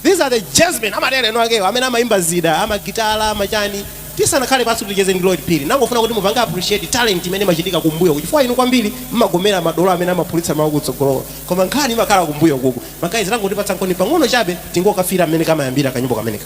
These are the jazzmen amatero eni akewo amene amaimba zida amagitala amachani tisanakhale pansi kuti ticheze ndi Lloyd Phiri nangofuna kuti mupange appreciate talent imene imachitika kumbuyo ku chifukwa inu kwambiri mmagomera madolo amene amaphulitsa mawu kutsogolo koma nkhani imakhala kumbuyo kuku magayizi tangotipatsankoni pang'ono chabe tingokafira mmene kamayambira kanyimbo kameneka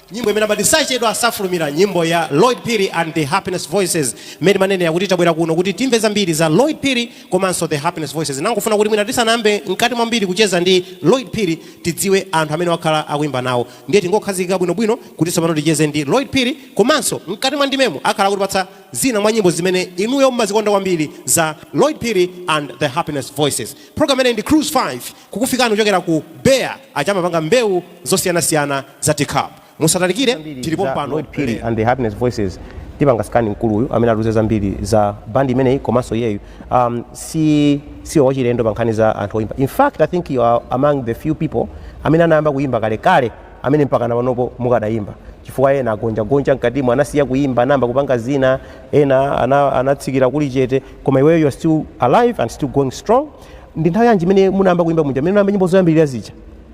Nyimbo imene amati Sachedwa safulumira, nyimbo ya Lloyd Phiri and the Happiness Voices. Mmene timanenera kuti tabwera kuno kuti timve zambiri za Lloyd Phiri komanso the Happiness Voices. Nangofuna kuti mwina tisanayambe mkati mwambiri kucheza ndi Lloyd Phiri tidziwe anthu amene wakhala akuimba nawo. Ndiye tingokhazikika bwinobwino kuti tsopano ticheze ndi Lloyd Phiri komanso mkati mwa ndimemu akhala akutipatsa zina mwa nyimbo zimene inuyo mumazikonda kwambiri za Lloyd Phiri and the Happiness Voices. Program ino ndi Cruise 5 kukufikirani kuchokera ku Beya aja amapanga mbewu zosiyanasiyana za teacup. Musatalikire zambiri tili pompano Lloyd Phiri lero. and the Happiness Voices tipanga scan mkuluyu amene atiuze zambiri za band imeneyi komanso iyeyu um, si si wachilendo pa nkhani za anthu oyimba in fact i think you are among the few people amene anayamba kuyimba kalekale amene mpaka na panopo mukadayimba chifukwa ena agonjagonja mkatimu anasiya kuyimba anayamba kupanga zina ena ana- anatsikira kuli chete koma iweyo you are still alive and still going strong ndi nthawi yanji imene munayamba kuimba muja imene munayamba nyimbo zoyambirira zija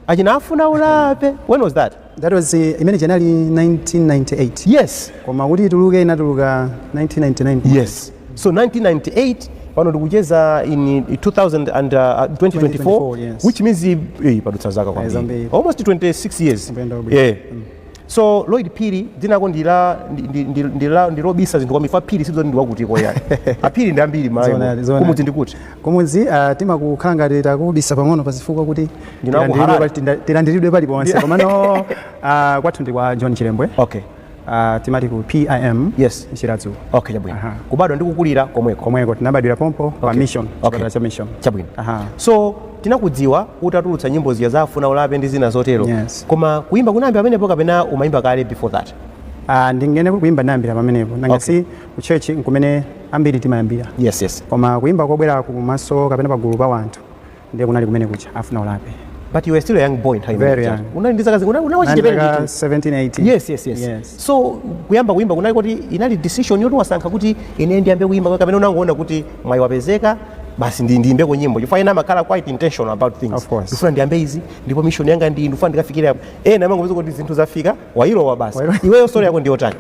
achina afuna ulape when was that that was uh, in January 1998 yes koma kuti ituluke inatuluka 1999 yes so 1998 pano tikucheza in 2000 and, uh, 2024, 2024, yes. which means eh, padutsa zaka zambiri. almost 26 years Kupenda ubwino. yeah. So Lloyd Phiri dzinako ndi la ndi ndi ndi ndi la ndi lobisa zinthu kwambiri chifukwa Phiri sizoti ndi wakutiko ayi. Aphiri ndi ambiri Zoonadi, Malawi. zoonadi. Kumudzi ndi kuti? kumudzi ah, timakukhala ngati takubisa pang'ono pazifukwa kuti Ndinaku tilandiridwe Harare. pali- tinda- tilandiridwe paliponse komano ah, kwathu ndi kwa john chilembwe Okay. Ah, timati ku pim Yes. Chiradzulu Okay chabwino. Aha. Kubadwa ndi kukulira komweko. komweko tinabadwira pompo pa Okay. mission Okay. chipatala cha mission Chabwino. Aha. So tinakudziwa utatulutsa nyimbo zija za afuna ulape ndi zina zotero Yes. koma kuimba kunayambira pamenepo kapena umayimba kale before that Ah, ndinene kuti kuimba nayambira pamenepo nanga Okay. si ku church nkumene ambiri timayambira yes yes koma kuimba kobwera kumaso kapena pagulu pa wanthu ndiye kunali kumene kuja afuna ulape but you were still a young boy nthawi Very imeneyo. young. unali ndi zaka zingati? Una- unali wachichepere Nandaka ndithu. 17 18 yes yes yes Yes. so kuyamba kuimba kunali kuti inali decision yoti wasankha kuti ine ndiyambe kuimba kapena unangoona kuti mwayi wapezeka basi ndi ndiimbeko nyimbo chifukwa ena amakhala quite intentional about things Of course. ndifuna ndiyambe izi ndipo mission yanga ndi ndifuna ndikafikire apo ena amangopeza kuti zinthu zafika wailowa basi Wailowa. iweyo story yako ndiyotani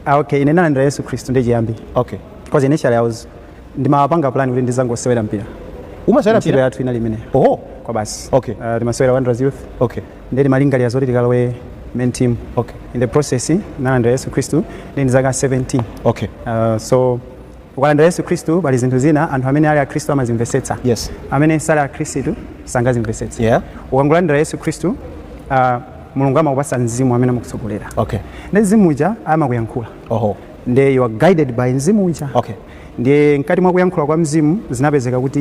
Ah, okay ine nalandira yesu khristu ndiye chiyambi okay because initially i was ndimapanga plan kuti ndizangosewera mpira umasewera ntchito mpira yathu inali imeneyo oh kwabasi Okay. Ah, timasewera wanderers youth okay ndi timalingalira zoti tikalowe main team Okay. in the process nalandira yesu khristu ndi ndi zaka 17 okay Uh, so Ukalandira Yesu Khristu pali zinthu zina anthu amene ali akhristu amazimvetsetsa Yes. amene sali akhristu sangazimvetsetse Yeah. ukangolandira yesu khristu uh, mulungu amakupatsa mzimu amene amakutsogolera Okay. ndi mzimu uja amakuyankhula Oho. nde you are guided by mzimu uja Okay. ndiye mkati mwa kuyankhula kwa mzimu zinapezeka kuti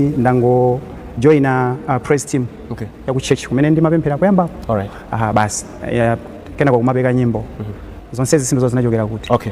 ndangojoina uh, praise team Okay. ya ku church kumene ndimapemphera kuyambapo Alright. aha basi yeah, kenako nkumapeka nyimbo zonse zisimbizo zinachokera kuti Okay.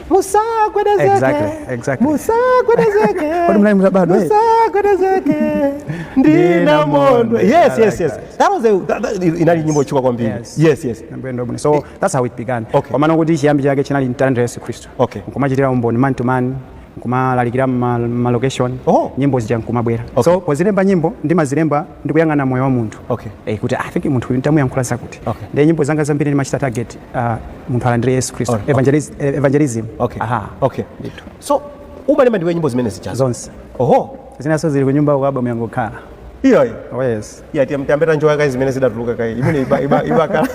musagwedezeke Exactly, exactly. musagwedezeke Kodi munali mutabadwa, eh? musagwedezeke ndina mondwe Ndina yes yes yes mondwe. that was a that, that, inali nyimbo yotchuka kwambiri Yes. yes yes Ndabwenda bwino. so that's how it began Okay. komano kuti chiyambi chake chinali mtanda yesu khristu Okay. nkumachitira umboni man to man nkumalalikira ma- malocation Oh. nyimbo zija nkumabwera Okay. so pozilemba nyimbo ndimazilemba ndikuyang'ana moyo wa munthu Okay. eh, kuti i think munthu uyu ntamuyankhula zakuti Okay. ndiye nyimbo zanga zambiri ndimachita target uh, munthu alandire yesu khristu Alright, okay. Evangeliz- eh, evangelism okay aha okay ndithu so umalemba ndiwe nyimbo zimene zijazo zonse oho zinaso zili kunyumba ku album yangokhala iyoyi oh yes iya tiyambe tanjoya kaye zimene zidatuluka kaye imene iba- iba- ibakhala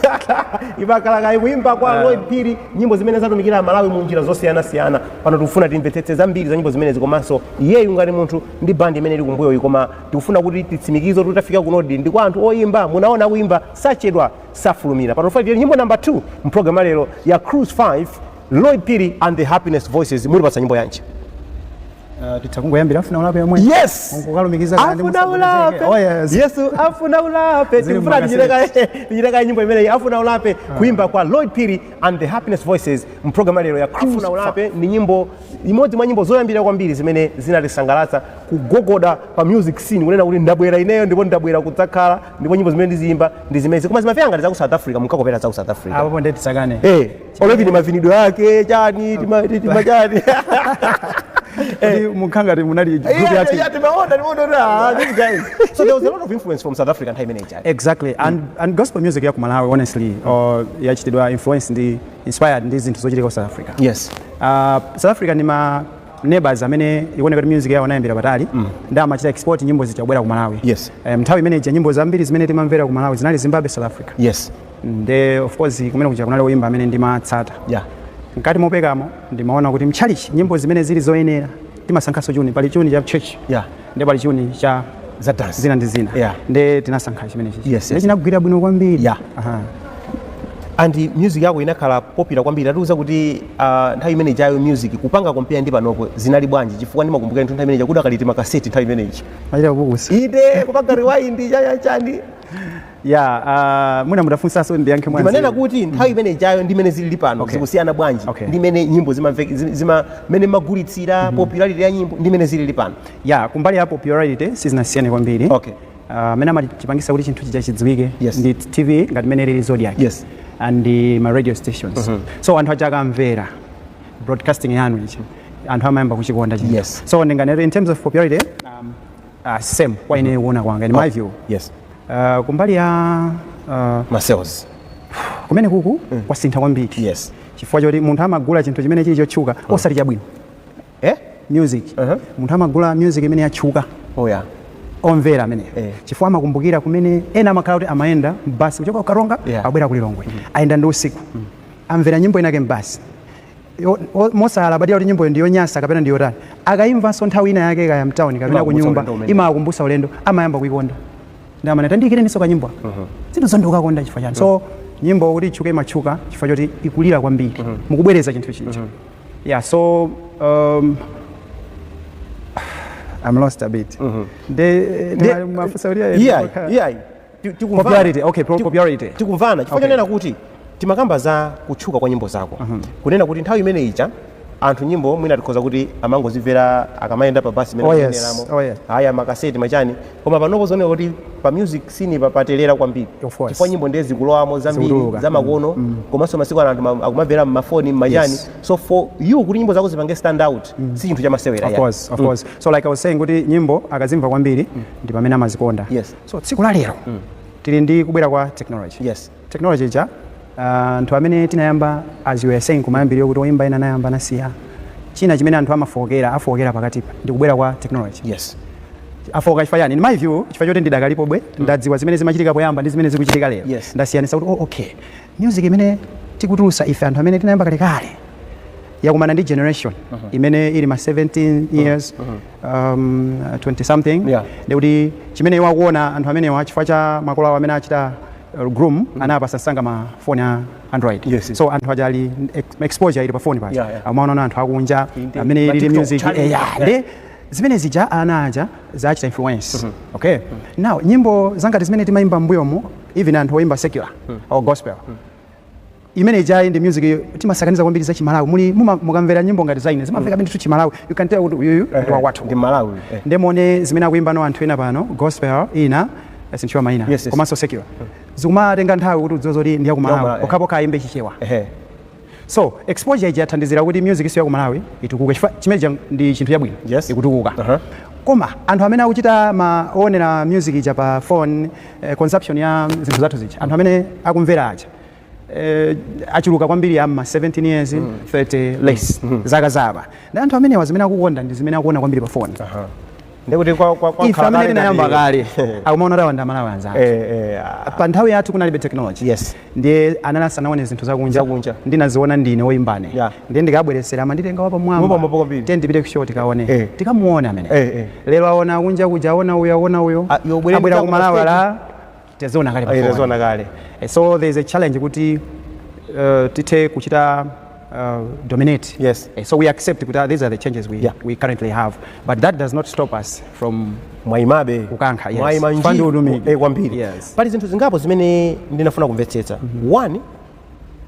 ibakhala kaye kuimba kwa Lloyd Phiri nyimbo zimene zatumikira amalawi mu njira zosiyanasiyana pano tikufuna timvetsetse zambiri za nyimbo zimenezi komanso iyeyu ngati munthu ndi bandi imene ili kumbuyoyi koma tikufuna kuti titsimikize kuti tafika kunodi ndi kwa anthu oyimba mudaona kuimba sachedwa safulumira pano tufuna nyimbo namba 2 mpulogalamu lero ya cruise 5 lloyd phiri and the happiness voices mutipatsa nyimbo yanji Uh, titangoyambira afuna ulape yomwe yes Mukukalumikiza kana ndi afuna ulape musagwedezeke. Oh, yes. yesu afuna ulape Zili tikufuna mmakasi. tichiteka- tichiteka nyimbo imeneyi afuna ulape kuimba kwa lloyd phiri and the happiness voices mpulogalamu lero ya cruise afuna ulape ndi nyimbo imodzi mwa nyimbo zoyambira kwambiri zimene zinatisangalatsa kugogoda pa music scene kunena kuti ndabwera ineyo ndipo ndabwera kudzakhala ndipo nyimbo zimene ndiziyimba ndi zimenezi koma zimamveka ngati za ku south africa munkakopera za ku south africa apopo ndiye tisakane Eh, olo even ndi mavinidwe ake chani tima- ti- tima chani kuti munkakhala ngati munali group Yeah, yake yeah, timaona, timaona kuti, ah, these guys. So there was a lot of influence from South Africa nthawi imeneyi chani. exactly and, and gospel music ya ku malawi honestly or yachitidwa influence ndi inspired ndi zinthu zochitika ku south africa Yes. uh, south africa ndi ma neighbors amene ikuoneka kuti music yawo anayambira patali mm. ndi amachita export nyimbo zija kubwera ku Malawi yes. um, nthawi imene ija nyimbo zambiri zimene timamvera ku Malawi zinali Zimbabwe South Africa yes. nde of course kumene kuja kunali oyimba amene ndimatsata yeah. mkati mopekamo ndimaona kuti mchalichi nyimbo zimene zili zoyenera timasankhanso chuni pali chuni cha church yeah. nde pali chuni cha za dance zina ndi zina Yeah. nde tinasankha chimenechi Yes, yes. nde chinagwira bwino kwambiri Yeah. Aha. and music yako inakhala popular kwambiri tatiuza kuti uh, nthawi imene ijayo music kupanga compare ndi panopo zinali bwanji chifukwa ndimakumbukira nthu nthawi imene ija kudakali timakaseti nthawi imene ija timachita kupukusa ine kupanga rewind chachachani ya uh, mwina mutafunsanso ndiyankhe mwanzi ndimanena kuti nthawi imene ijayo ndi mmene zilili pano Okay. zikusiyana bwanji Okay. ndi mmene nyimbo zimamveke- zim- zima- mmene magulitsira popularity ya nyimbo ndi mmene zilili pano ya kumbali ya popularity sizinasiyane kwambiri Okay. Uh, amene amachipangisa kuti chinthu chija chidziwike Yes. ndi tv ngati mmene ilili Zodiak Yes. and uh, ma radio stations so anthu aja akamvera broadcasting yanu ichi anthu amayamba kuchikonda chija Yes. so ndinganero in terms of popularity um, Uh, same kwa ine kuona kwanga in my view yes uh, kumbali ya uh, ma sales kumene kuku mm. kwasintha kwambiri yes chifukwa choti munthu amagula chinthu chimene chili chotchuka mm. osati chabwino eh? music uh -huh. munthu amagula music imene yatchuka oh, yeah. omvera amene eh. chifukwa amakumbukira kumene ena amakhala kuti amayenda mbasi kuchoka ku Karonga yeah. abwera ku Lilongwe mm -hmm. ayenda ndi usiku mm. amvera nyimbo inake mbasi yo- o- mosalabadira kuti nyimboyo ndi yonyansa kapena ndi yotani akayimvanso nthawi ina yake kaya mtawuni kapena ku Imawakumbutsa nyumba ulendo umene. imawakumbutsa ulendo amayamba kuyikonda ndi amanena tandiyikireninso kanyimbo zinthu zoti ukukakonda chifukwa chani so nyimbo kuti itchuke imatchuka chifukwa choti ikulira kwambiri mukubwereza chinthu chija yeah so um, I'm lost a bit. Nde- nde- mafunso kuti ayi- iyayi iyayi Ti- tikumvana- Popularity, okay, pro- tiku- popularity. tikumvana chifukwa Okay. chonena kuti timakamba za kutchuka kwa nyimbo zako kunena kuti nthawi imene ija anthu nyimbo mwina tikhoza kuti amangozimvera akamayenda pa basi imene Oh, yes. akuyenderamo. Oh, yes. aya makaseti machani koma panopo zikuoneka kuti pa music scene pa- paterera kwambiri Of course. chifukwa nyimbo ndiye zikulowamo zambiri Zikutuluka. zamakono komanso masiku ano anthu ma- akumamvera mmafoni mmachani Yes. so for you kuti nyimbo zako zipange stand out si chinthu chamasewera Of yani. course, of course. So like I was saying kuti nyimbo akazimva kwambiri ndi pamene amazikonda. Yes. so tsiku la lero tili ndi kubwera kwa technology Yes. technology ija ah, anthu amene tinayamba as you were saying kumayambiriro kuti oyimba ena anayamba anasiya china chimene anthu amafookera afookera pakatipa ndi kubwera kwa technology yes afooka chifukwa chani in my view chifukwa choti ndidakalipobe ndadziwa zimene zimachitika poyamba ndi zimene zikuchitika lero Yes. ndasiyanisa kuti oh, okay Music imene tikutulusa ife anthu amene tinayamba kalekale yakumana ndi generation uh -huh. imene ili ma 17 years uh -huh. um, 20 something yeah. ndikuti chimene iwo akuona anthu amenewa chifukwa cha makolo awo amene awachita uh, groom mm -hmm. anawapatsa msanga ma phone a android yes, yes. so anthu aja ali exposure ili pa phone paja yeah, yeah. amaona anthu akunja amene ili music eh, yeah, yeah. yeah zimene zija ana aja zawachita influence mm -hmm. okay mm -hmm. now nyimbo za ngati zimene timayimba mbuyomo even anthu oyimba secular mm. or gospel mm. imene ija inali music iyo timasakaniza kwambiri za chimalawi muli mukamvera nyimbo ngati zaine zimamveka ndithu chimalawi you can tell kuti uyuyu ndi wakwathu ndi Mmalawi eh. nde muone zimene akuimbano anthu ena pano gospel ina sinditchula maina yes, yes. komanso secular mm. zikumatenga nthawi kuti udziwe zoti ndi ya ku Malawi eh. pokhapokha ayimbe chichewa So exposure ija yathandizira kuti music ya ku Malawi itukuke chifukwa chimene chija ndi chinthu chabwino Yes. ikutukuka Uh-huh. koma anthu amene akuchita ma oonera music ija pa phone eh, consumption ya zinthu zathu zija anthu amene akumvera aja eh, achuluka kwambiri ama 17 years 30 less zaka za apa ndiye anthu amenewa zimene akukonda ndi zimene akuona kwambiri pa phone ndikuti kwa kwa kwa ife amene tinayamba kale akumaona ngati awanda a Malawi anzathu eh eh ah, pa nthawi yathu kunalibe technology yes ndiye anali asanaone zinthu zakunja Zakunja. ndinaziona ndine woyimbane Yeah. ndiye ndikabweresera amanditenga wapamwamba kwambiri. tiyeni tipite kushow tikaone Eh. tikamuone amene Eh, eh. lero aona akunja kuja aona uyo aona uyo Ah, abwera ku malawi pa la Taziona kale pa Eh, phone. taziona kale Eh, so there is a challenge kuti uh, tithe kuchita uh, dominate Yes. Eh, so we accept kuti ah, these are the changes we, Yeah. we currently have but that does not stop us from mwaimabe Kukankha, yes. mwaima ndi utumiki. eh, kwambiri Yes. pali zinthu zingapo zimene ndinafuna kumvetsetsa one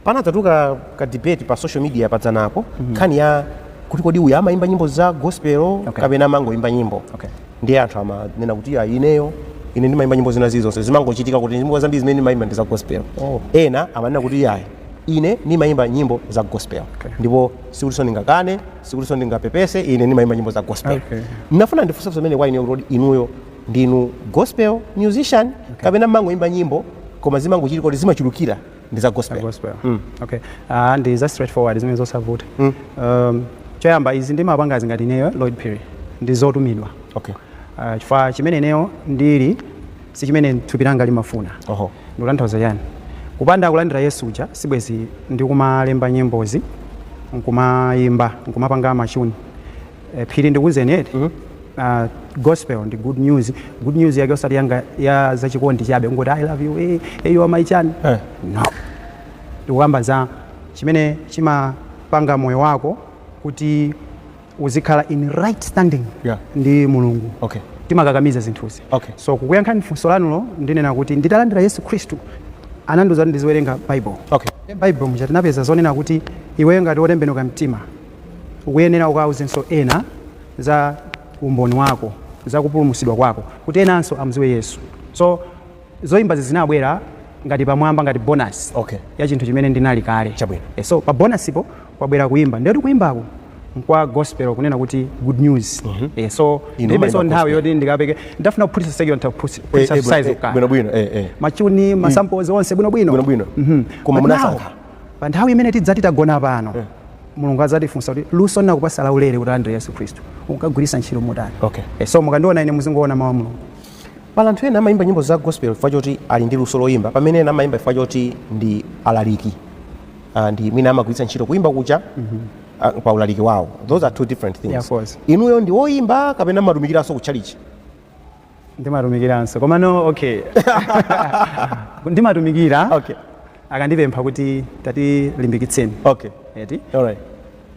panadzabuka ka debate pa social media padzanapo mm-hmm. nkhani ya kuti kodi uyu amayimba nyimbo za gospel okay. kapena amangoyimba nyimbo okay. ndiye anthu amanena kuti iyayi ineyo ine ndimayimba nyimbo zina zilizonse zimangochitika kuti nyimbo zambiri zimene ndimayimba ndi za gospel oh. ena amanena kuti iyayi ine nimayimba nyimbo za gospel okay. ndipo sikutinso ndingakane sikutinso ndingapepese ine nimayimba nyimbo za gospel okay. ndinafuna ndifunse zimene kwa inuyo kuti kodi inuyo ndinu gospel musician kapena mmangoimba nyimbo koma zimangochitika kuti zimachulukira ndi za gospel gospel okay ah ndi za straightforward zimene zosavuta um choyamba izi ndimapangazi ngati ineyo lloyd phiri ndi zotumidwa okay uh, chifukwa chimene ineyo ndili si chimene thupi langa limafuna oho ndikutanthauza chani kupanda kulandira yesu uja sibwezi ndikumalemba nyimbozi nkumayimba nkumapanga machuni Eh, phiri ndikuwuzeni eti mm -hmm. uh, gospel ndi good news good news yake osati yanga ya zachikondi chabe kungoti i love you hey, eh, hey, you are my chani hey. Eh. no ndikukamba za chimene chimapanga moyo wako kuti uzikhala in right standing yeah. ndi mulungu okay. timakakamiza zinthuzi okay. so kukuyankhani funso lanulo ndinena kuti nditalandira yesu khristu anandiuza kuti ndiziwerenga bible okay. bible muja tinapeza zonena kuti iweyo ngati wotembenuka mtima Ukuyenera ukauzenso ena za umboni wako, za kupulumutsidwa kwako, kuti enanso amdziwe Yesu. So, zoimbazi zinabwera ngati pamwamba, ngati bonus Okay. ya chinthu chimene ndinali kale. Chabwino. Eh, so, pa bonasipo kwabwera kuimba. Ndiye kuimbako nkwa gospel kunena kuti good news. Eh, so, Inu ndilibenso mumaimba nthawi gospel. yoti ndikapeke. Ndikanafuna kuphulitsa secular, nditaphulitsa- Eh, phulitsa eh, bwino- size eh, kukana. bwinobwino, eh, eh. Machuni, masamples onse bwinobwino. Bwinobwino. Mhm. Koma But now, munasankha. pa nthawi imene tidzati tagona pano Mulungu adzatifunsa kuti luso ndinakupasa laulere utalandira Yesu Khristu unkagwiritsa ntchito motani? Okay. Eh, so mukandiona ine muzingoona mawu a Mulungu. Pali anthu ena amayimba nyimbo za gospel chifukwa choti ali ndi luso loyimba pamene ena amayimba chifukwa choti ndi alaliki Ah, ndi mwina amagwiritsa ntchito kuyimba kutchalitchi ah, pa ulaliki wawo those are two different things Yeah, of course. inuyo ndi woyimba kapena mumatumikiranso kutchalitchi ndimatumikiranso komano okay ndimatumikira okay akandipempha kuti tatilimbikitseni okay eti alright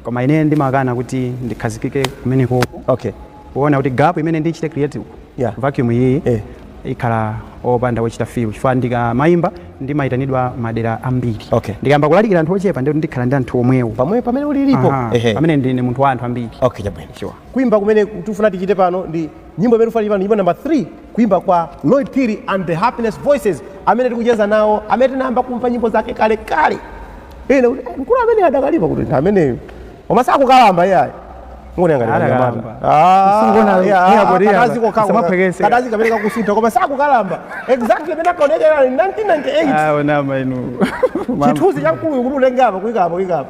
koma ine ndimakana kuti ndikhazikike kumeneko okay kuona kuti gap imene ndichite create Yeah. vacuum iyiyi Eh. ikhala opanda wochita fill chifukwa ndikamayimba ndimayitanidwa madera ambiri Okay. ndikayamba kulalikira anthu ochepa ndiye kuti ndikhala ndi anthu omwewo pamwe pamene ulilipo Aha, ehe pamene ndine munthu wa anthu ambiri okay chabwino Sure. kuimba kumene tifuna tichite pano ndi nyimbo imene tikufanira pano nyimbo namba 3 kuimba kwa lloyd phiri and the happiness voices amene tikucheza nawo amene tinayamba kumva nyimbo zake kale kale ine kuti, "Eh, mkulu amene adakalipo kuti ndi ameneyo koma sakukalamba iyayi Adakalamba. Singona- iya, kuti iya, samaphekese. kadazi kamene kakusintha koma sakukalamba exactly imene akaonekera 1998 aonama inu chithunzi cha mkuluyu kuti utenge apa uike apa uike apa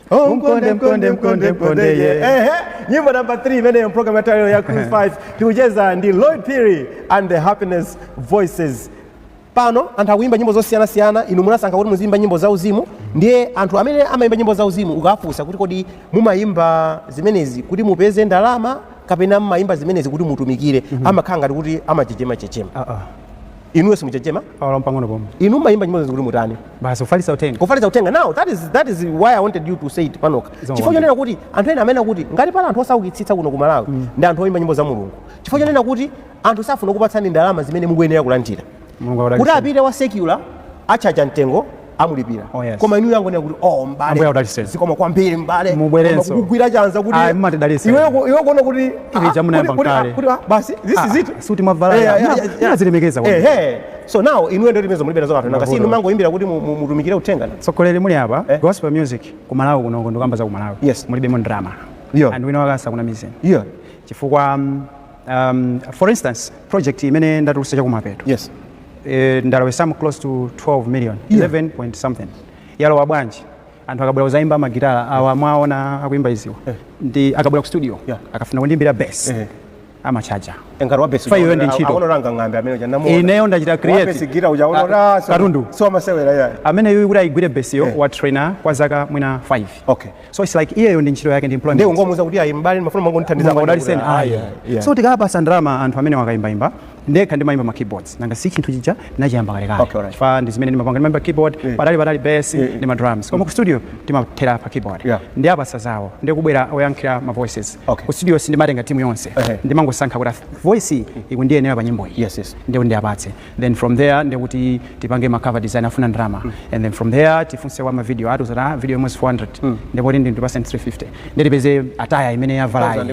Oh, mkonde mkonde mkonde mkonde ye. Ehe, nyimbo namba 3 imeneyo program ya lero ya Cruise 5 tikucheza ndi Lloyd Phiri and the Happiness Voices. Pano anthu akuimba nyimbo zosiyanasiyana, inu munasankha kuti muziimba nyimbo za uzimu, ndiye anthu amene amaimba nyimbo za uzimu ukafunsa kuti kodi mumaimba zimenezi kuti mupeze ndalama kapena mumaimba zimenezi kuti mutumikire, amakhala ngati kuti amachechema chechema. Ah, ah. inuyo simuchechema pawala mpang'ono pomwe inu mumayimba nyimbo izi kuti mutani basi kufalitsa uthenga kufalitsa uthenga now that is, that is why i wanted you to say it panoka chifukwa chonena kuti anthu ena amanena kuti ngati pali anthu osaukitsitsa kuno ku malawi mm. ndi anthu oyimba nyimbo za mulungu chifukwa chonena kuti anthu safuna kukupatsani ndalama zimene mukuyenera kulandira kuti apite wa secular atchaja mtengo amulipira oh, yes. koma inuyo angonena kuti oh mbale zikomo kwambiri mbale mubwerenso kugwira chanza kuti ah, mumatidalitsa iwe iwe kuona kuti ah, iwe chamuna yamba kale kuti ah, basi this is it suti mavalaya zilemekeza kwa eh so now inuyo ndio timezo mulibera zoka tu nanga si inu mumangoimbira kuti mutumikire uthenga tsogolo lili apa eh? gospel music ku Malawi kuno ndikukamba za ku Malawi yes mulibemo ndalama yeah and wina asakunamizeni yeah chifukwa um, um, for instance project imene ndatulutsa cha kumapeto yes eh, ndalowa some close to 12 million Yeah. 11 point something yalowa bwanji anthu akabwera kudzaimba magitala awa mwaona akuimba izi awa Eh. ndi akabwera ku studio Yeah. akafuna kundiimbira bass Eh. amatchaja engati wabesi Iyeyo ndi ntchito. aonoranga ng'ambe amene uja namuona. Ineyo ndachita create. Wabesi gira uja aonoranga, Ka- so- katundu. so amasewera ya amene yuyu kuti ayigwire besiyo Eh. wa traina kwa zaka mwina 5 okay so it's like iyeyo ndi ntchito yake ndi employment ndiye ungomuuza kuti ayi m'bale ndimafuna mangondithandiza Mulungu adaliseni ayi so tikapatsa ndalama anthu amenewa kuimbaimba ndekha ndimayimba ma keyboards nanga si chinthu chija ndinachiyamba Okay, alright. kalekale chifukwa ndi zimene ndimapanga ndimayimba keyboard Yeah. patali patali bass Yeah, yeah. ndi ma drums koma ku studio timathera pa keyboard Yeah. ndi apasa zawo ndi kubwera oyankhira ma voices Okay. ku studio sindimatenga timu yonse Ehe. ndimangosankha kuti voice iyi ikundiyenera pa nyimbo iyi Yes, yes. ndiye ndiyapatse then from there ndekuti tipange ma cover design afuna ndalama mm. and then from there tifunse wa ma video atiuza za ah, video imodzi 400 mm. ndipo ndi ndi percent 350 ndetipeze ataya imene yavala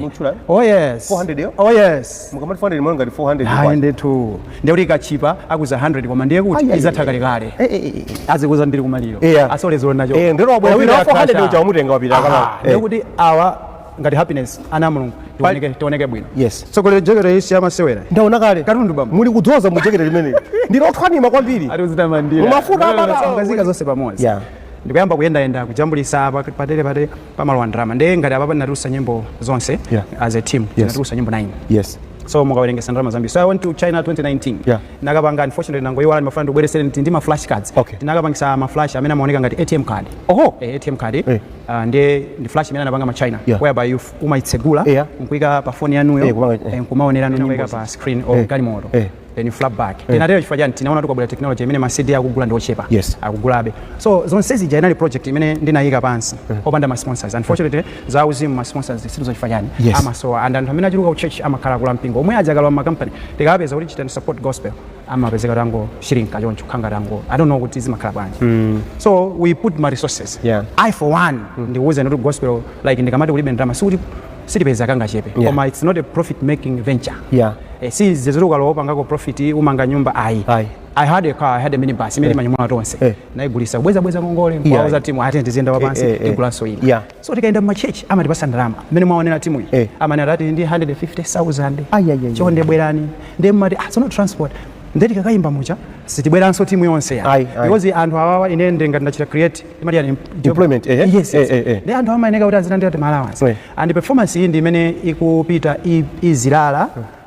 oh yes 400 yo oh yes mukamati 400 mwana ngati 400 ah ndetu ndekuti ikatchipa akuuza 100 koma ndiye kuti izatha kale kale eh, eh, eh, azikuuza ndili kumaliro yeah. asole zona cho eh ndero wabwera 400 uja umutenga wapita kama ndekuti awa ngati happiness ana a mulungu tioneke tioneke bwino yes tsogolo jekete isi amasewera ndaona kale katundu bamba muli kudzoza mu jekete limeneli ndili othwanima kwambiri ati uzitamandira Umafuta Lero amata- samukazika zonse pamodzi Yeah. ndikuyamba kuyendayenda kujambulisa apa patere patere pamalowa ndalama ndiye ngati apapa ndinatulusa nyimbo zonse Yeah. as a team ndinatulusa nyimbo 9 yes so mukawerengesa ndalama zambiri so I went to China 2019 Yeah. nakapanga unfortunately nangoyiwala ndimafuna ndibweresere ndi ma flash cards Okay. tinakapangisa ma flash amene amaoneka ngati atm card oho Eh, atm card Eh. Uh, nde ndi flash imene anapanga ma China yeah. whereby you umaitsegula yeah. nkuika pa phone yanuyo yeah, yeah. Eh, eh, nkumaonera nyimbo kuika pa screen or yeah. galimoto yeah. then you flap back yeah. tinatero chifukwa chani tinaona kukubwera technology imene ma CD akugula ndi ochepa yes. akugulabe so zonse zija inali project imene ndinayika pansi yeah. opanda ma sponsors unfortunately yeah. za uzimu ma sponsors sizo chifukwa chani yes. amasowa and anthu amene achuluka ku church amakhala akulu ampingo omwe aja akuma ma company tikawapeza kuti chitani support gospel amapezeka tango shirinka choncho khanga tango i don't know kuti zimakhala bwanji mm. so we put my resources yeah. i for one mm. ndikuwuza kuti gospel like ndikamati kulibe ndalama sikuti sitipeza kangachepe yeah. koma it's not a profit making venture yeah. eh, si zezoti ukalowa pangako profit umanga nyumba ayi Aye. I had a car, I had a minibus, imene eh. manyumwa tonse. Eh. Naigulisa kubweza bweza ngongole, yeah. kwa uza timu, ati ndizienda wapansi, yeah. Eh, eh, eh. igulaso ina. Yeah. So tikayenda muma church amatipasa ndalama mmene mwaonera timuyi eh. amanena ati ndi 150,000 chonde bwerani ndiye mumati ah, sono transport ndiye tikakayimba mu church sitibweranso timu yonse ya because anthu awawa ine ndili ngati ndachita create timati chani employment eh, eh? yes, eh, yes. Eh, eh, ndiye anthu amayeneka kuti azilandira ti allowance eh. and performance iyi ndi imene ikupita izilala eh.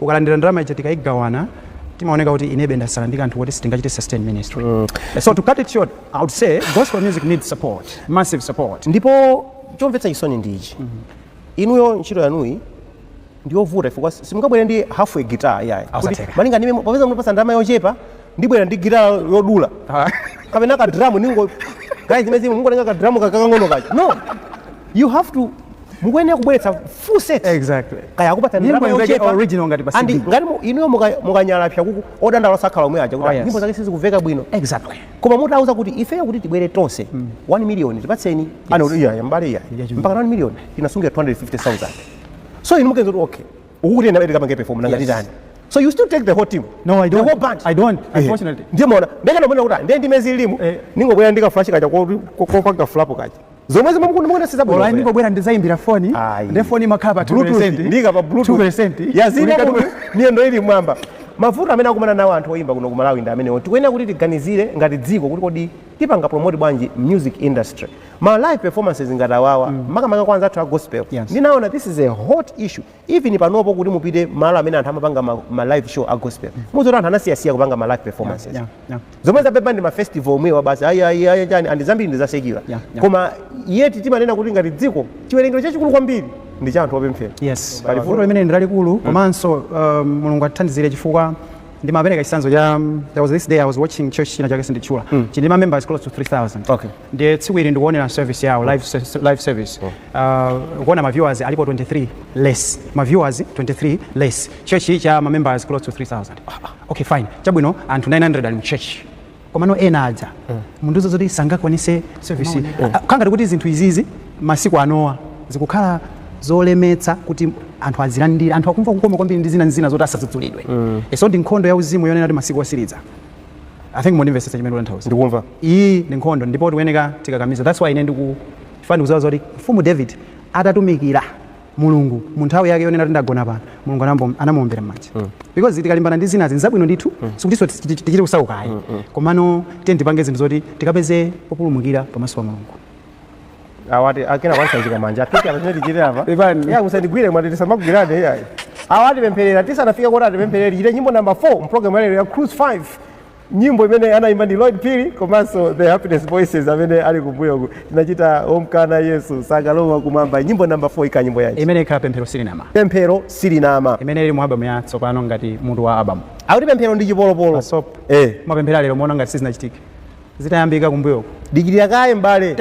ukalandira ndalama ija tikaigawana zimaoneka kuti inebe ndasala ndi kanthu koti sitingachite sustain ministry mm. so to cut it short i would say gospel music needs support massive support ndipo chomvetsa chisoni ndi ichi mm -hmm. inuyo ntchito yanuyi ndiyovuta chifukwa simungabwere ndi half a guitar yayi malinga ndi popeza mutipasa ndalama yochepa ndibwera ndi gitala yodula kapena ka drum n'ngokayi zimene zimwe mungotenga ka drum kakang'ono kake no you have to mukuyenera kubweretsa full set exactly kaya akupatsa Nyimbo ndalama imveke yochepa original ngati pa and CD. ngati mu- inuyo muka- mukanyalapsa kuti odandaula osakhala omwe aja Oh, kuti yes. nyimbo zake sizikumveka bwino exactly koma mutauza kuti ifeyo kuti tibwere tonse 1 million tipatseni anakuti iya mbale iya Yeah, chimene. mpaka 1 million tinasungira 250000 so inu mupeza kuti okay ukukuti ena atati akapange perform nanga Yes. titani so you still take the whole team No, I don't. the whole band I don't, Eh, unfortunately. ndiye mona ndenge nomona kuti ndi ndi mezi ilimu Eh. ningobwera ndika flash kaja ko ko- ko panga plug kaja zomwezi mukunda mukunda siza bwino olai bwino. ndingobwera ndizayimbira foni Ayi. nde foni imakhala pa Bluetooth, ndiika pa Bluetooth. 2 yazina kuno miyendo ili mwamba mavuto amene akumana nawo anthu oyimba kuno ku malawi ndi amenewo tikuyenera kuti tiganizire ngati dziko kuti kodi tipanga promote bwanji music industry ma live performances ngati awawa mm. makamaka kwa anzathu a gospel yes. ndinaona this is a hot issue even panopo kuti mupite malo amene anthu amapanga ma, ma live show a gospel mm. muona zoti anthu anasiyasiya kupanga ma live performances yeah, yeah, yeah. zomwe zapepuka ndi ma festival omwewa basi ayayaya chani andi zambiri ndi za secular yeah, yeah. koma yeti timanena kuti ngati dziko chiwerengero chachikulu kwambiri ndi cha anthu opemphera yes pali vuto limene ndi lalikulu mm. komanso um, mulungu atithandizire chifukwa ndimapereka chitsanzo cha there was this day i was watching church china chake sinditchula mm. chili ndi ma members close to 3000 okay. ndiye tsiku ili ndikuonera service yawo live, se- live service uh, kuona ma viewers alipo 23 less ma viewers 23 less church cha ma members close to 3000 okay fine chabwino anthu 900 ali mu church komano ena aja mundiuza zoti sangakwanise service Ah, kukhala ngati kuti zinthu izizi masiku anowa zikukhala zolemetsa kuti anthu azilandire anthu akumva kukoma kwambiri ndi zina ndi zina zoti asadzudzulidwe mm. so ndi nkhondo ya uzimu yonena kuti masiku osiriza I think mundimvetsetsa chimene ndikutanthauza. Ndikumva. Iyi ndi nkhondo ndipo tikuyeneka tikakamize. That's why ine ndiku chifukwa ndikudziwa zoti mfumu David atatumikira Mulungu mu nthawi yake yonena kuti ndagona pano Mulungu anambo- anamuombera m'manja. Because tikalimbana ndi zinazi nzabwino ndithu sikutinso tichi- tichi- tichite kusauka ayi. Komano tiye tipange zinthu zoti tikapeze populumukira pamaso pa Mulungu. awati akanakusanjika manja apite apa chimene tichite apa Ivani. ya musandigwire awati tisamagwirane iyayi awa atipempherera tisanafika kuti atipempherere tichite nyimbo namba 4 mpulogalamu yalero ya cruise 5 nyimbo imene anayimba ndi Lloyd Phiri komanso the happiness voices amene ali kumbuyoku tinachita omkana yesu sakalowa kumwamba nyimbo namba 4 ikhala nyimbo yanji imene ikhala pemphero silinama pemphero silinama imene ili mu album ya tsopano ngati mutu wa album akuti pemphero ndi chipolopolo Pasop. eh mapemphero alero muona ngati sizinachitike zitayambika kumbuyoku. Dikirira kaye m'bale.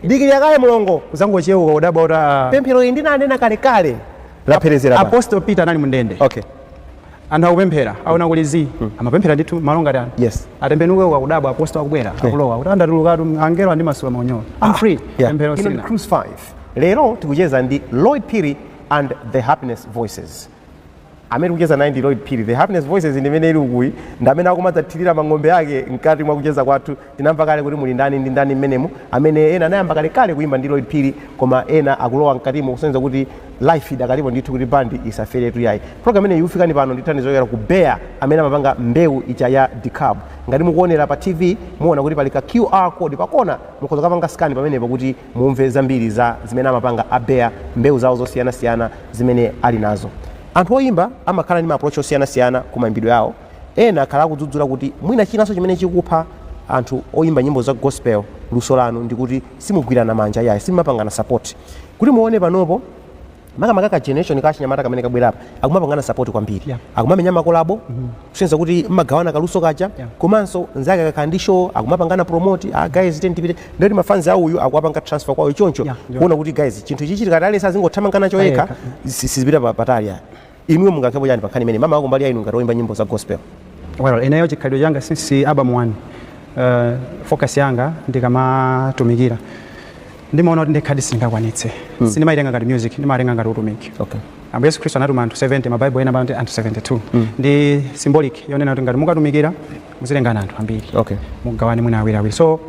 Dikirira kaye mlongo. Kudzangochewuka, kudabwa kuti aah. Pemphero iyi ndinanena kalekale lapherezera pa. Apostle Peter anali mundende. Okay. Anthu akupemphera, aona kuli zii. Amapemphera ndithu malo ngati ano. Yes. Atembenuke uku akudabwa apostle akubwera, akulowa. Kuti andatulukatu angelo andimasula maunyolo. I'm free. Yeah. Pemphero Ino ndi silina. Cruise 5. Lero tikucheza ndi Lloyd Phiri and the Happiness Voices. amene tikucheza naye ndi Lloyd Phiri the happiness voices ndi imene ili ukuyi ndi amene akumadzathirira mang'ombe ake mkati mwa kucheza kwathu tinamva kale kuti muli ndani ndi ndani mmenemu amene ena anayamba kalekale kuyimba ndi Lloyd Phiri koma ena akulowa mkatimo kusonyeza kuti life idakalipo ndithu kuti bandi isaferetu yayi program imeneyi ikufikani pano ndi thandizo yochokera ku Bayer amene amapanga mbewu ija ya Dekalb ngati mukuonera pa tv muona kuti pali ka qr code pakona mukhoza kukapanga scan pamenepo kuti mumve zambiri za zimene amapanga a Bea, mbewu zawo zosiyanasiyana zimene ali nazo. Anthu oyimba amakhala ndi ma approach osiyanasiyana ku maimbidwe awo, ena akhala akudzudzula kuti mwina chinanso chimene chikupha anthu oyimba nyimbo za gospel luso lanu ndikuti simugwirana manja iyayi, simumapangana support. Kuti muone panopo. makamaka ka generation ka achinyamata kamene kabweraka akumapangana support kwambiri Yeah. akumamenya makolabo kusonyeza kuti mmagawana kaluso kaja Yeah. komanso nzake akakhala ndi show akumapangana promote ah, guys tiyeni tipite ndikuti mafanzi a uyu akuwapanga transfer kwawo choncho Yeah, yeah. kuona kuti guys chinthu ichi tikati aliyense azingothamangana choyekha Payekha. si- sizipita pa- patali ayi Inuyo mungayankhepo chani pa nkhani imeneyi? Maka kumbali ya inu ngati oyimba nyimbo za gospel? Well, ineyo chikhalidwe changa since album 1 uh, focus yanga ndikamatumikira ndimaona kuti ndekhadi sindingakwanitse mm. sindimaitenga ngati music ndimatenga ngati utumiki okay. ambuye yesu khristu anatuma anthu 70 mabaibo ena amati anthu 72 mm. ndi symbolic yonena kuti ngati mukatumikira muzitengana anthu ambiri okay. mugawane mwina awiri awiri so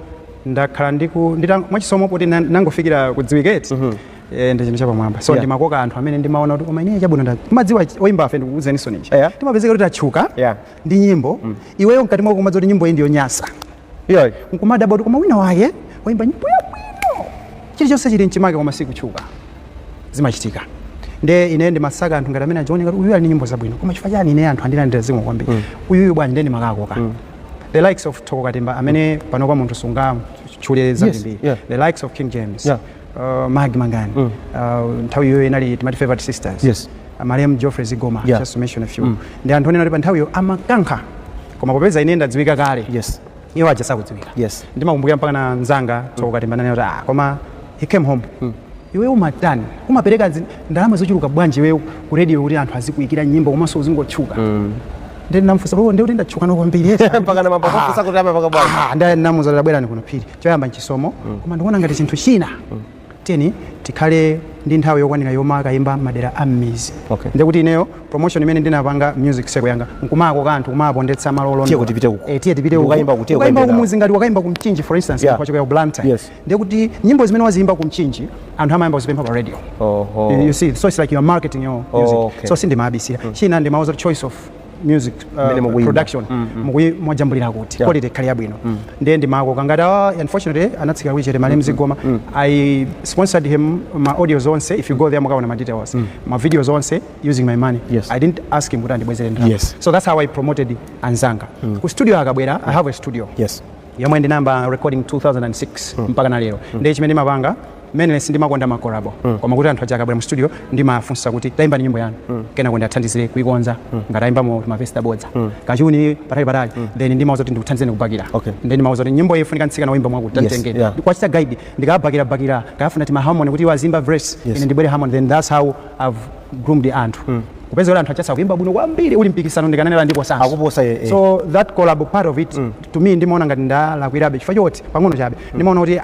ndakhala ndiku ndita- mwachisomo koti na- nangofikira kudziwika eti mm -hmm. Eh, ndi chinthu chapamwamba so Yeah. ndimakoka anthu amene ndimaona kuti koma ineyo chabwino nda mukudziwa oyimbafe ndikuuzeninso ninji Yeah. timapezeka kuti tatchuka Yeah. ndi nyimbo iweyo mkati mwako kumadziwa kuti nyimbo iyi ndiyonyasa iyoyi nkumadabwa kuti koma wina wake wayimba nyimbo yabwino chilichonse chili mchimake koma sakutchuka zimachitika nde ine ndimasaka anthu ngati amenewa zioneka kuti uyu ali ndi nyimbo zabwino koma chifukwa chani ine anthu andilandira zimwe kwambiri uyuyu bwanji nde ndimawakoka the likes of thoko katimba amene panopa munthu sungamtchule zambiri yeah. the likes of king james Yeah. uh, maggie mangani mm. uh, nthawi iyoyo inali timati favorite sisters yes. uh, malemu geoffrey zigoma yeah. just to mention a few mm. ndi anthu onena kuti pa nthawiyo amakankha koma popeza ine ndadziwika kale yes. iwo aja sakudziwika yes. ndimakumbukira mpakana nzanga thoko katimba mm. kuti ah, koma he came home mm iwe umatani umapereka ndalama zochuluka bwanji iwe ku radio kuti anthu azikuyikira nyimbo komanso uzingotchuka mm. ndinamufunsa kuti ndatchuka kwambiri mpaka na mapakosa ah. kuti amapaka bwanji ah, ndinamuza kuti ah bwerani kuno phiri choyamba nchisomo koma ndikuona ngati chinthu china tiyeni tikhale ndi nthawi yokwanira yomakayimba madera a mmizi Okay. ndiye kuti ineyo promotion imene ndinapanga music seko yanga nkumakoka anthu kumaponda malo olondola. Tiye kuti tipite uko. Eh, tiye tipite uko. Ukayimba kuti, tiye Ukayimba ukayimbe nawo. kumuzi ngati wakayimba kumchinji for instance Yeah. kuchokera ku blantyre Yes. ndiye kuti nyimbo zimene waziyimba kumchinji anthu amayamba kuzipempha pa radio Oho. You- you see so it's like you are marketing your music Okay. so sindimabisira china ndimauza kuti choice of music uh, Mmene mukuyimba. production mukuyi mwajambulira kuti Yeah. quality ikhale yabwino ndiye ndimakoka ngati awa unfortunately anatsikira kulichete malemu zigoma i sponsored him ma audios onse if you go there mukaona ma details ma videos onse using my money Yes. i didn't ask him kuti andibwezere ndalama Yes. so that's how i promoted anzanga ku studio akabwera i have a studio yes yomwe ndinayamba recording 2006 mpaka na lero ndiye chimene ndimapanga Mainly sindimakonda ma collabo koma kuti anthu aja akabwera mu studio ndimafunsa kuti taimbani nyimbo yanu kenako ndiathandizire kuikonza ngati aimbamo ma verse aboza kachuni patali patali then ndimauza kuti ndikuthandizeni kubakira Okay. then ndimauza kuti nyimbo iyi ifunika mtsikana woimba mwakuti Yes, tantengeni yeah. kuwachita guide ndikabakira bakira kuwafunira tima harmony kuti iwo azimba verse Yes. ine ndibwere harmony then that's how I've groomed anthu kupeza kuti anthu aja asa kuimba bwino kwambiri uli mpikisano ndikanenera ndipo sanso Akuposa, eh, eh. so that collab part of it to me ndimaona ngati ndalakwirabe chifukwa choti pang'ono chabe ndimaona kuti ah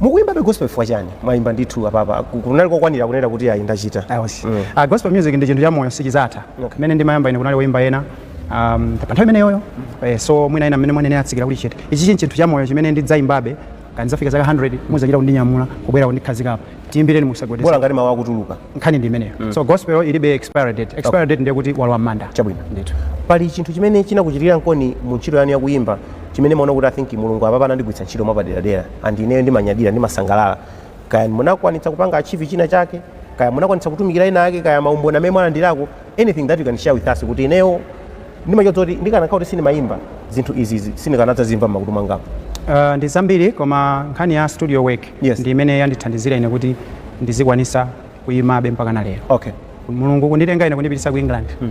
mukuimbabe gospel chifukwa chani mwaimba ndithu apapa ku- kunali kokwanira kunena kuti ayi ndachita Ayesu. Mm. Ah, gospel music ndi chinthu cha moyo sichizatha Okay. mmene ndimayamba ine kunali woyimba ena um, pa nthawi imeneyoyo eh, so mwina ena mmene mwanene atsikira kuti chete ichi chi chinthu cha moyo chimene ndidzayimbabe kaya ndizafika zaka 100 muzachita kundinyamula kubwera kundikhazikapo tiyimbireni musagwedezeke bola ngati mawu akutuluka nkhani ndi imeneyo so gospel ilibe expiry date expiry date ndiye kuti walowa mmanda Chabwino. ndithu pali chinthu chimene chinakuchitikira Nkoni mu ntchito yanu yakuyimba chimene mumaona kuti I think mulungu apapa anandigwiritsa ntchito mwapaderadera and ineyo ndimanyadira ndimasangalala kaya munakwanitsa kupanga achieve china chake kaya munakwanitsa kutumikira ena ake kaya maumboni amene mwalandirako anything that you can share with us kuti ineyo ndimachoza kuti ndikanakhala kuti sindimayimba zinthu izizi sindikanadzazimva m'makutu mwangamu Uh, ndi zambiri koma nkhani ya studio work Yes. ndi imene yandithandizira ine kuti ndizikwanisa kuyimabe mpaka na lero okay mulungu kunditenga ine kundipitisa ku england Kupita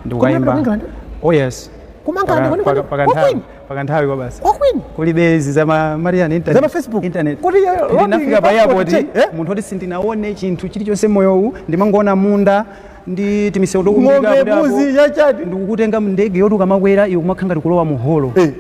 ku ndikukayimba England? oh yes Kumanga Paka- ndikoni paka- koni? paka Kwa nthawi- kwini? paka nthawi kwa basi Kwa kwini? kulibe izi za ma- marian internet. Za ma Facebook? internet Kuti, eh, Kuti lobbying ndinafika pa passport airport check, eh? munthu oti sindinaone chinthu chilichonse mmoyowu ndimangoona munda ndi timisewu tokumbika ng'ombe kuti apo- mbuzi chachati ndikukutenga mndege yoti ukamakwera iwe kumakhala ngati kulowa mu holo Eh.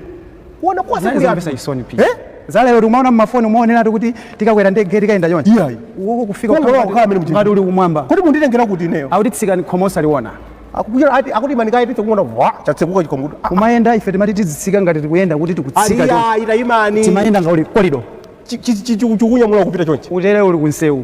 kuona kwase Zali kuli zomvesa anthu. chisoni pia. Eh? lero yoti umaona mmafoni umaoneratu kuti tikakwera ndege tikayenda chonchi Iyayi. uko kufika Koma kukhala- kukhala amene mchini. ngati uli kumwamba kodi munditengera kuti ineyo akuti tsikani khomo osaliona akukuchera ati akuti manika iti tikuona vwa chatsekuka chikomutu kumayenda ife timati tizitsika ngati tikuyenda kuti tikutsika chonchi. aliya ita imani timayenda ngati korido chikunyamula kupita chonchi utere uli kunsewu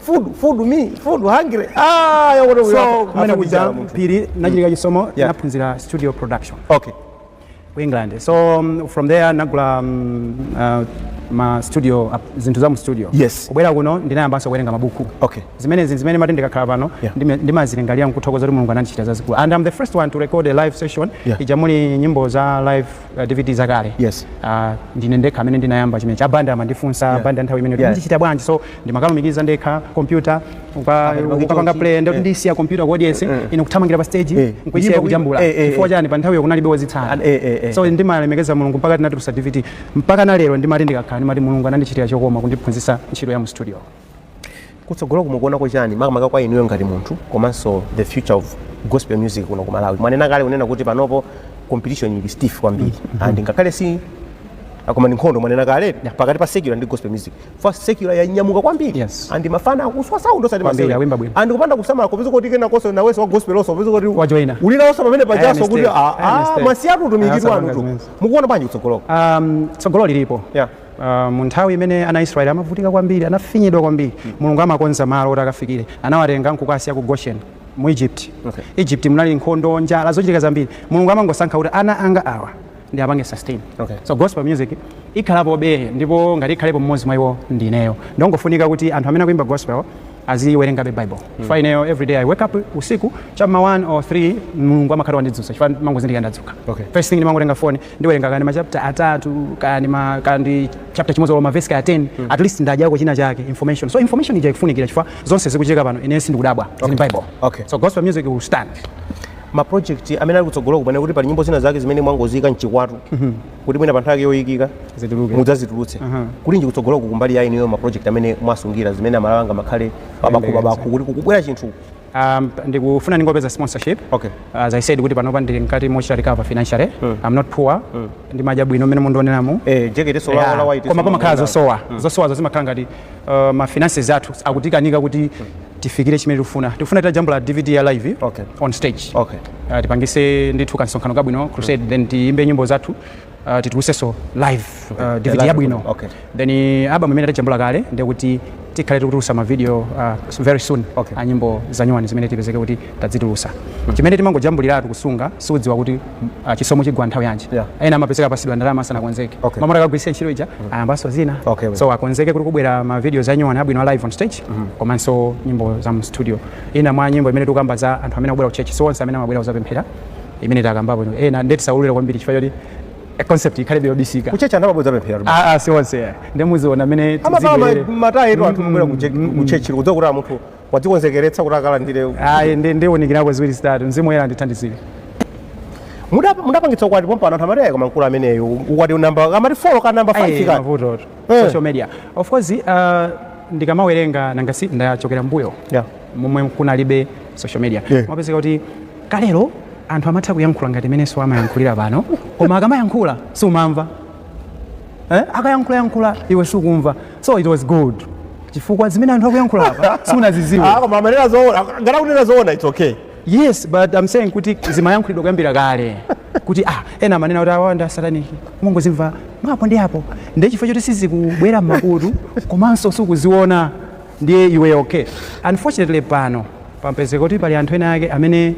food food me food hungry ah ya wona so kumene kuja Phiri nachitika chisomo Yeah. naphunzira studio production okay ku england so um, from there nagula um, uh, ma studio uh, zinthu za mu studio Yes. kubwera kuno ndinayambanso kuwerenga mabuku Okay. zimene zinthu zimene ndimati ndikakhala pano Yeah. ndime- ndimazilingalira nkuthokoza kuti mulungu anandichita zazikulu and i'm the first one to record a live session Yeah. ija muli nyimbo za live uh, dvd zakale yes. uh, ndine ndekha amene ndinayamba chimenechi abanda amandifunsa yeah. abanda nthawi imene yeah. ndichita bwanji so ndimakalumikiza ndekha kompyuta ukapanga play ndoti eh. ndisiya kompyuta ku audience eh, eh. ine kuthamangira pa stage nkuisiya kujambula chifukwa chani pa nthawiyo kunalibe wozitsata so ndimalemekeza mulungu mpaka tinatulusa dvd mpaka na lero ndimati ndikakhala ndimati mulungu anandichitira chokoma kundiphunzisa ntchito ya mu studio kutsogoloko mukuonako chani makamaka kwa inuyo ngati munthu komanso the future of gospel music kuno ku malawi mwanena kale kunena kuti panopo competition ili stiff kwambiri and ngakhale si akoma ndi nkhondo mwanena kale pakati pa secular ndi gospel music secular yanyamuka kwambiri Yes. and mafana akuswa sound osati Kwambiri, masewera. awimba bwino. and kupanda kusamala kupeza kuti kenakonso nawenso wa gospel onso kupeza kuti Wajoina. ulinaonso pamene pajaso kuti mistake. ah, Ayi, ah, mistake. mwasiyatu utumiki Ayi, wanu asamangatu zimenezo. mukuona bwanji kutsogoloko um, tsogolo lilipo Yeah. Mu nthawi imene ana a Israeli amavutika kwambiri, anafinyidwa kwambiri, Mulungu amakonza malo oti akafikire. Anawatenga n'kukawasiya ku Gosheni, mu Egypt. Egypt munali nkhondo, njala, zochitika zambiri. Mulungu amangosankha kuti ana anga awa ndiapange sustain. So gospel music ikhalapobe ndipo ngati ikhalepo m'modzi mwa iwo ndi ineyo. Nchongofunika kuti anthu amene akuimba gospel aziwerengabe Bible chifukwa ineyo everyday I wake up usiku cha m'ma 1 or 3 Mulungu amakhala wandidzutsa chifukwa ndimangozindikira ndadzuka. First thing ndimangotenga phone ndiwerenga kaya ndi ma chapter atatu kaya ndi ma kaya ndi chapter chimodzi olo ma verse kaya 10 at least ndadyako china chake information so information ija ikufunikira chifukwa zonse zikuchitika pano ine sindikudabwa zili m'bible Okay. so gospel music will stand ma project amene ali kutsogolo kunena kuti pali nyimbo zina zake zimene mwangozika mchikwatu kuti mwina pa nthawi yake yoyikika Zituluke. mudzazitulutse kulinji kutsogoloku kumbali ya inuyo ma project amene mwasungira zimene amalawi anga makhale babakhu babakhu kuti kukubwera chinthu Um, ndikufuna ndingopeza sponsorship okay. as i said kuti panopa ndili mkati mochita recover financially mm. i'm not poor mm. ndimadya bwino mmene mundioneramu eh, yeah. koma pamakhala zosowa mm. zosowazo zimakhala ngati uh, ma finances athu akutikanika kuti mm. tifikire chimene tikufuna tikufuna titajambula dvd ya live okay. on stage okay. uh, tipangise ndithu kansonkhano kabwino crusade mm. then tiyimbe nyimbo zathu uh, titulusenso live uh, Okay. dvd Live, yabwino okay. then uh, album imene tajambula kale ndi kuti tikhale tikutulusa mavideo uh, very soon Okay. a nyimbo zanyuwani zimene tipezeke kuti tazitulusa chimene timangojambuliratu kusunga sudziwa kuti uh, chisomo chigwa nthawi yanji Yeah. ena amapezeka apasidwa ndalama asanakonzeke Okay. m'malo moti akagwiritsa ntchito ija ayambanso zina Okay, well. so akonzeke kuti kukubwera mavideos anyuwani abwino a live on stage komanso nyimbo za mu studio ina mwa nyimbo imene tikukamba za anthu amene akubwera ku church so onse amene amabwera kuzapemphera imene takambapo ino ena nde tisaulule kwambiri chifukwa choti eh, concept ikhalebe yobisika kuchechi anthu amabwera kudzapempheratu Ah, ah, si onse eh. nde muziona amene amapala tizibwerere. matayitu anthu kubwera kuchechi kudziwa kuti munthu wadzikonzekeretsa kuti akalandire ayi nde ndiunikirako ziwiri zitatu mzimu woyera andithandizire Mudap- mudapangitsa ukwati pompano anthu amati ayi koma mkulu ameneyo ukwati namba kaya 4 ka namba 5 Ayi, ka mavuto tu. Eh. social media of course uh, ndikamawerenga nangasi ndachokera mbuyo Yeah. momwe kunalibe social media Yeah. mapezeka kuti Kalero anthu amatha kuyankhula ngati mmenenso amayankhulira pano, koma akamayankhula sumamva. Akayankhulayankhula iwe sukumva. So it was good chifukwa zimene anthu akuyankhula apa sunazidziwa. Ah, koma amanena zoona. Ngati akunena zoona it's okay. Yes, but I'm saying kuti zimayankhulidwa kuyambira kale kuti ah, ena amanena kuti awa ndi asataniki umangozimva mwapo ndi apo ndiye chifukwa choti sizikubwera m'makutu komanso sukuziona Ndiye iwe ok. Unfortunately pano pamapezeka kuti pali anthu ena ake amene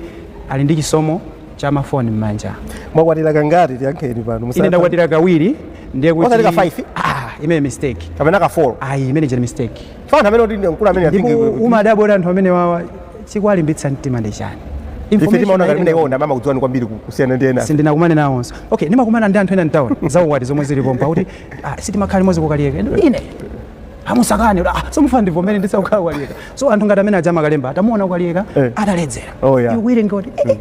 ali ndi chisomo cha ma phone mmanja. Mwakwatira kangati tiyankheni pano musatani. Ine ndakwatira kawiri ndiye kuti. Osati ka 5? Ah, imeneyo mistake. Kapena ka 4? Ayi, imene ija ndi mistake. Chifukwa anthu amene oti ndi mkulu amene I think. Ndipo umadabwa kuti anthu amenewawa chikuwalimbitsa mtima ndi chani? Ife timaona ngati ineyo ndi amene amakudziwani kwambiri kusiyana ndi ena. Sindinakumane nawonso. Okay, ndimakumana ndi anthu ena m'town zaukwati zomwe zilipo mpakuti ah, sitimakhala limodzi ku Kaliyeka. Ine amusakane kuti, ah, so mfana ndivomere ndisakukhala ku Kaliyeka so anthu ngati amene aja amakalemba atamuona ku Kaliyeka Eh. ataledzera Oh, yeah. ikuwerenge kuti eh, eh,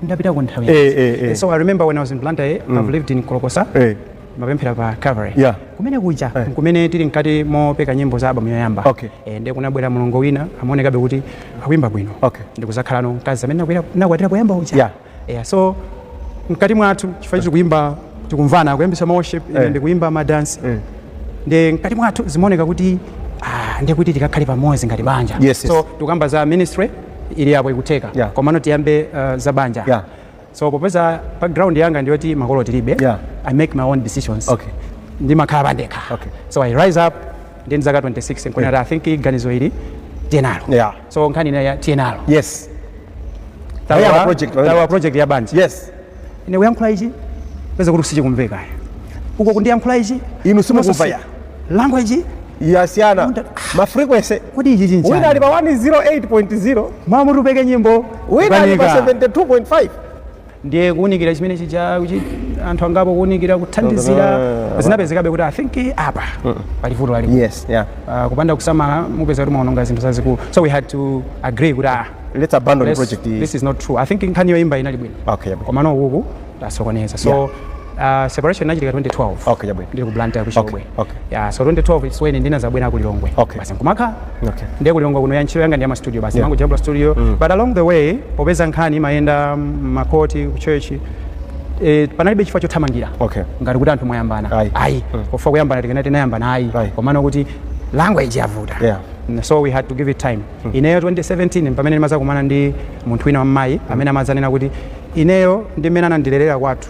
ndapita ku nthawi Eh, yanji. eh, eh. so i remember when i was in blantyre i've lived in kolokosa Eh. mapemphera pa calvary Yeah. kumene kuja Eh. kumene tili mkati mopeka nyimbo za album yoyamba Okay. Eh, ndiye kunabwera mulongo wina amaonekabe kuti akuimba bwino Okay. ndi kuzakhalano mkazi amene nakwatira poyamba uja Yeah. Eya, so mkati mwathu chifukwa tiri kuimba tikumvana kuyambisa ma worship ine Eh. ndikuimba ma danse Mm. nde mkati mwathu zimaoneka kuti ah, nde kuti tikakhale pamodzi ngati banja Yes, yes. so tikukamba za ministry ili yapo ikutheka Yeah. komano tiyambe uh, za banja Yeah. so popeza background yanga ndiyoti makolo tilibe Yeah. i make my own decisions Okay. ndimakhala pandekha Okay. so i rise up ndi ndi zaka 26 nkunena yeah. i think ganizo ili tiye nalo Yeah. so nkhani ya tiye nalo yes Tawa- Tawa project, tawa- tawa project ya banja yes ine kuyankhula ichi peza kuti sichikumveka uko kundiyankhula ichi inu simukumva ya language yasiyana Unda- ma frequency kodi ichi chinchani? wina ali pa 108.0 mwamuti tipeke nyimbo wina ali pa kukanika. 72.5 ndiye kuunikira chimene chija kuchi- anthu angapo kuunikira kuthandizira Ah, zinapezekabe kuti i think eh, apa pali vuto lalikulu yes yeah Ah, kupanda kusamala mupezeka kuti mwaononga zinthu zazikulu so we had to agree kuti ah, let's abandon the let's- project this is not true i think nkhani yoimba inali bwino okay yeah. komano ukuku tasokoneza so Yeah. Uh, separation inachitika 2012. Okay, jabwe. Ndili ku Blantyre ku Chilobwe. Okay, okay. Yeah, so 2012 it's when ndinazabwera ku Lilongwe. Okay. Basi nkumakhala. Okay. Ndiye ku Lilongwe kuno ntchito yanga ndi ya ma studio basi. Yeah. Ndimangojambula studio. Mm. But along the way popeza nkhani imayenda m'makhoti ku church eh, panalibe chifukwa chothamangira okay. ngati kuti anthu mwayambana ayi, ayi. Mm. chifukwa kuyambana tikanati tinayambana ayi komano kuti language yavuta yeah. Mm, so we had to give it time mm. ineyo 2017 pamene ndimazakumana ndi munthu wina wammayi mm. amene amadzanena kuti ineyo ndi mmene anandilerera kwathu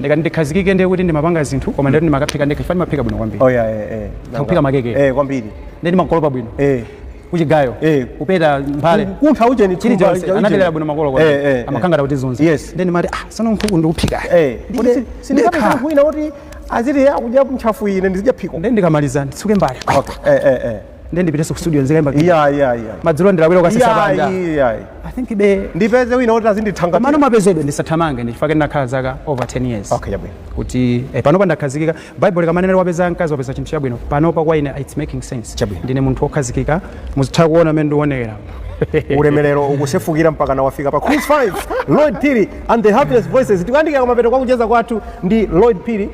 ndikati ndikhazikike ndiye kuti ndimapanga zinthu koma ndati ndimakaphika ndekha chifukwa ndimaphika bwino kwambiri oh yeah eh eh kuphika makeke. eh kwambiri ndiye ndimakolopa bwino eh kuchigayo Eh. kupeta mphale kuntha ujeni chili thumba, chonse ujeni. anandilera bwino makolo kwa eh eh amakangata kuti zonse Yes. ndiye ndimati ah sono nkhuku ndikuphika eh Kodi si- sindikapita ndekha. kwina kuti aziti akudya ntchafu ine ndizidya phiko ndiye ndikamaliza nditsuke mbale okay eh eh eh Ndiye ndipitenso ku studio nzikaimba kina. iya iya iya Madzulo ndilawira kukasesa iya panja. iya I think be ndipeze wina woti azindithangata komano mapezedwe ndisathamange ndi chifukwa chake ndinakhala zaka over 10 years. okay chabwino kuti eh, panopa ndakhazikika bible likamanena wapeza mkazi wapeza chinthu chabwino panopa kwa ine its making sense Chabwino. ndine munthu wokhazikika muzitha kuona mmene ndionekera ulemerero ukusefukira mpakana wafika pa cruise 5 lloyd phiri and the happiness voices tikuyandikira kumapeto kwa kucheza kwathu ndi lloyd phiri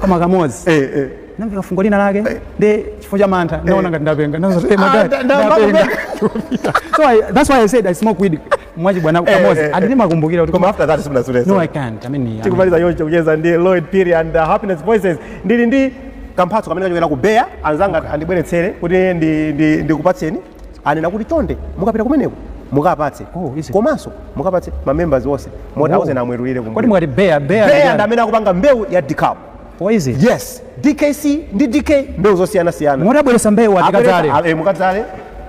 koma kamodzi eh, eh. namveka fungo lina lake eh. ndi chifukwa cha mantha eh. naona ngati ndapenga ah, so I, that's why I said I smoke weed mwachibwana kamodzi and ndimakumbukira kuti koma after that sindinasutenso no I can't I mean tikumaliza choncho kucheza ndi Lloyd Phiri and uh, Happiness Voices ndili ndi kamphatso kamene kachokera ku Bayer anzanga andibweretsere kuti ndikupatseni anena kuti chonde mukapita kumeneko mukapatse Oh, is it? komanso mukapatse ma members onse moti Oh. auzeni amwetulire kodi kumbuyo mwati bayer bayer bayer ndi yani? amene akupanga mbewu ya dekalb Oh, is it? yes dkc ndi dk mbewu zosiyanasiyana mwati abweretsa mbewu tikadzale mukadzale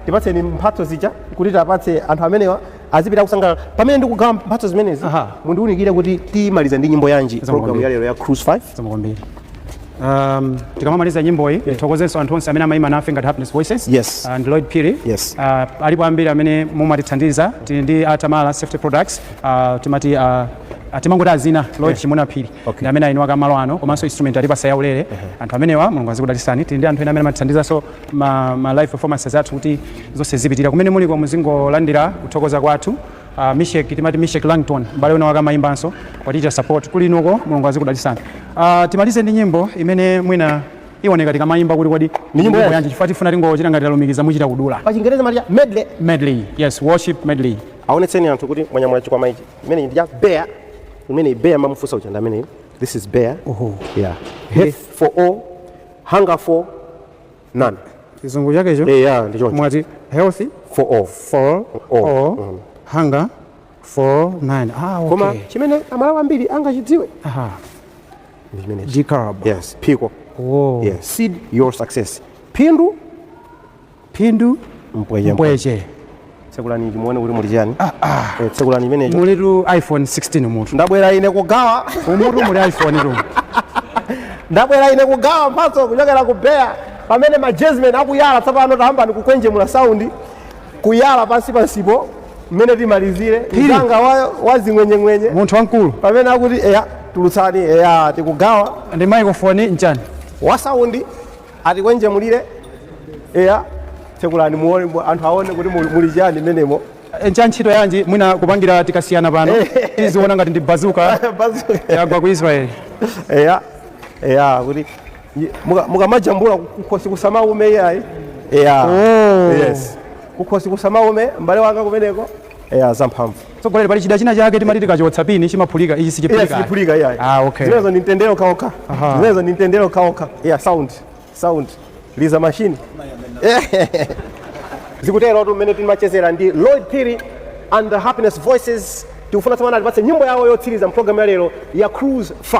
tipatseni mphatso zija kuti tapatse anthu amenewa azipita akusangalala pamene ndikugawa mphatso zimenezi Aha. mundiunikire kuti timaliza ndi nyimbo yanji Zikomo program kwambiri. ya lero ya cruise 5 Zikomo kwambiri um, tikamamaliza nyimboyi tithokozenso anthu onse amene amaima nafe ngati happiness voices Yes. and lloyd phiri Yes. uh, alipo ambiri amene mumatithandiza tili ndi a tamala safety products uh, timati uh, uh, timangoti adzina lloyd chimuna phiri Okay. ndi amene eniwake a malo ano komanso instrument atipatsa yaulere anthu amenewa mulungu azikudalitsani tili ndi anthu ena amene amatithandizanso ma ma live performances athu kuti zonse zipitira kumene muliko muzingolandira kuthokoza kwathu uh, mishek timati mishek langton mbale wina wake amayimbanso watichita support kuli inuko mulungu azikudalitsani uh, timalize ndi nyimbo imene mwina iwoneka tikamayimba kuti kodi ndi nyimbo yanji? yanji chifukwa tifuna tingochita ngati talumikiza muchita kudula pa chingerezi amati ya medley medley yes worship medley aonetseni anthu kuti mwanyamula chikwama ichi imene ndi ya bayer imene bayer mumafunsa uja ndi amene this is bayer Oho. yeah health for all hunger for none chizungu chakecho eh ya ndi choncho mwati health for all for All. all Mm. hunger for none ah, okay. koma chimene amalawi ambiri angachidziwe Aha. ndi chimene dekalb yes phiko oh. yes seed your success phindu phindu Mpweche, mpweche tsekulani ichi muone kuti muli chani Eh, tsekulani imenecho mulitu iphone 16 mutu ndabwera ine kugawa umutu muli iphone tu ndabwera ine kugawa mphatso kuchokera ku Beyard pamene majazimeni akuyala tsopano tayambani kukhwenjemula saundi kuyala pansi pansipo mmene timalizire mnzanga wa, wa zing'wenyeng'wenye munthu wamkulu pamene akuti eya tulutsani eya tikugawa ndi microphone nchani wa saundi Atikwenjemulire eya tsekulani muone mu- anthu aone kuti muli chani mmenemo Eh, ncha ntchito yanji mwina kupangira tikasiyana pano tiziona ngati ndi bazuka Bazuka. yagwa ku israeli eya eya kuti nyi- muka- mukamajambula kukhosi kusamaume iyayi eya Oh. yes kukhosi kusamaume m'bale wanga kumeneko Yeah, zamphamvu. Tsogoleri pali chida china chake timati tikachotsa pini chimaphulika ichi sichiphulika. Yes, sichiphulika iyayi. Ah, okay. Zimenezo ni mtendere kaoka. Zimenezo ni mtendere kaoka. Yeah, sound. Sound. Liza machine. Zikutero tu mmene timachezera ndi Lloyd Phiri and the Happiness Voices. Tikufuna tsopano atipatse nyimbo yawo yotsiriza mu program ya lero ya Cruise 5.